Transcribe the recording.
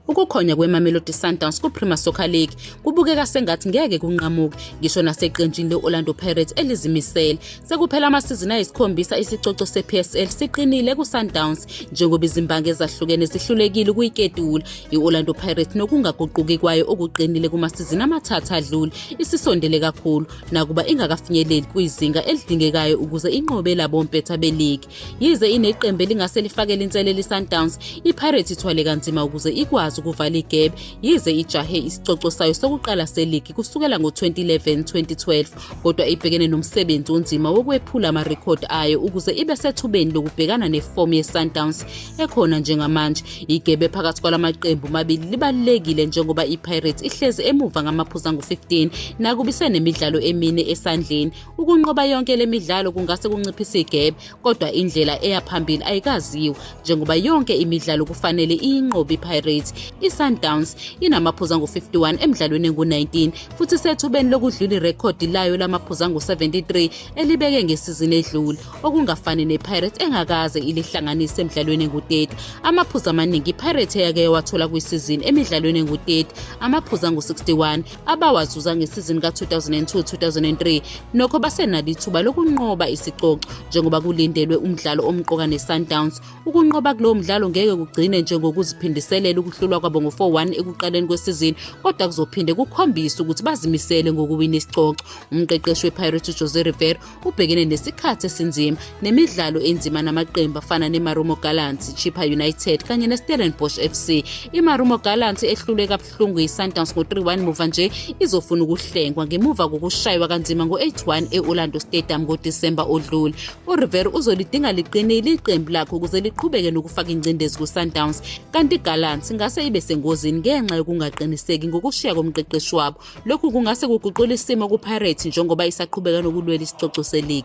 Ukukhonya kweMamelodi Sundowns kuPremier Soccer League kubukeka sengathi ngeke kunqamuke ngisho naseqenjini le-Orlando Pirates elizimisele. Sekuphela amasizini ayisikhombisa isicoco sePSL siqinile kuSundowns njengoba izimbangi ezahlukene zihlulekile ukuyiketula. I-Orlando Pirates nokungaguquki kwayo okuqinile kumasizini amathathu adlule isisondele kakhulu nakuba ingakafinyeleli kwizinga elidingekayo ukuze inqobe labompetha beligi. Yize ineqembu elingase lifakele inselelo iSundowns, iPirates ithwale kanzima ukuze ikwazi ukuvala igebe yize ijahe isicoco sayo sokuqala seligi kusukela ngo-2011-2012 kodwa ibhekene nomsebenzi onzima wokwephula amarekhodi ayo ukuze ibe sethubeni lokubhekana nefomu yeSundowns ekhona njengamanje. Igebe phakathi kwala maqembu mabili libalulekile njengoba iPirates ihlezi emuva ngamaphuzu angu-15 nakuba isenemidlalo emine esandleni Ukunqoba yonke le midlalo kungase kunciphise igebe kodwa indlela eya phambili ayikaziwa njengoba yonke imidlalo kufanele iyinqobe iPirates. ISundowns inamaphuzu angu-51 emidlalweni engu-19 futhi isethubeni lokudlula irekhodi layo lamaphuzu angu-73 elibeke ngesizini edlule okungafani nePirates engakaze ilihlanganise emidlalweni engu-30. Amaphuzu amaningi iPirates eyake yawathola kwisizini emidlalweni engu-30 amaphuzu angu-61 abawazuza ngesizini ka-2002-2003 nokho basenalo ithuba lokunqoba isicoco njengoba kulindelwe umdlalo omqoka ne-sundowns ukunqoba kulowo mdlalo ngeke kugcine njengokuziphindiselela ukuhlulwa kwabo ngo-4-1 ekuqaleni kwesizini kodwa kuzophinde kukhombise ukuthi bazimisele ngokuwina isicoco umqeqeshi wepirates ujose river ubhekene nesikhathi esinzima nemidlalo enzima namaqembu afana nemarumo gallants chipper united kanye nestellenbosch fc imarumo gallants ehlulwe Hlungu iSundowns ngo-3-1 muva nje izofuna ukuhlengwa ngemuva kokushaywa kanzima ngo-8-1 e-Orlando Stadium ngoDisemba odlule. URivera uzolidinga liqinile iqembu lakhe ukuze liqhubeke nokufaka ingcindezi kuSundowns, kanti iGallants ingase ibe sengozini ngenxa yokungaqiniseki ngokushiya komqeqeshi wabo. Lokhu kungase kuguqule isimo kuPirates njengoba isaqhubeka nokulwela isicoco seligi.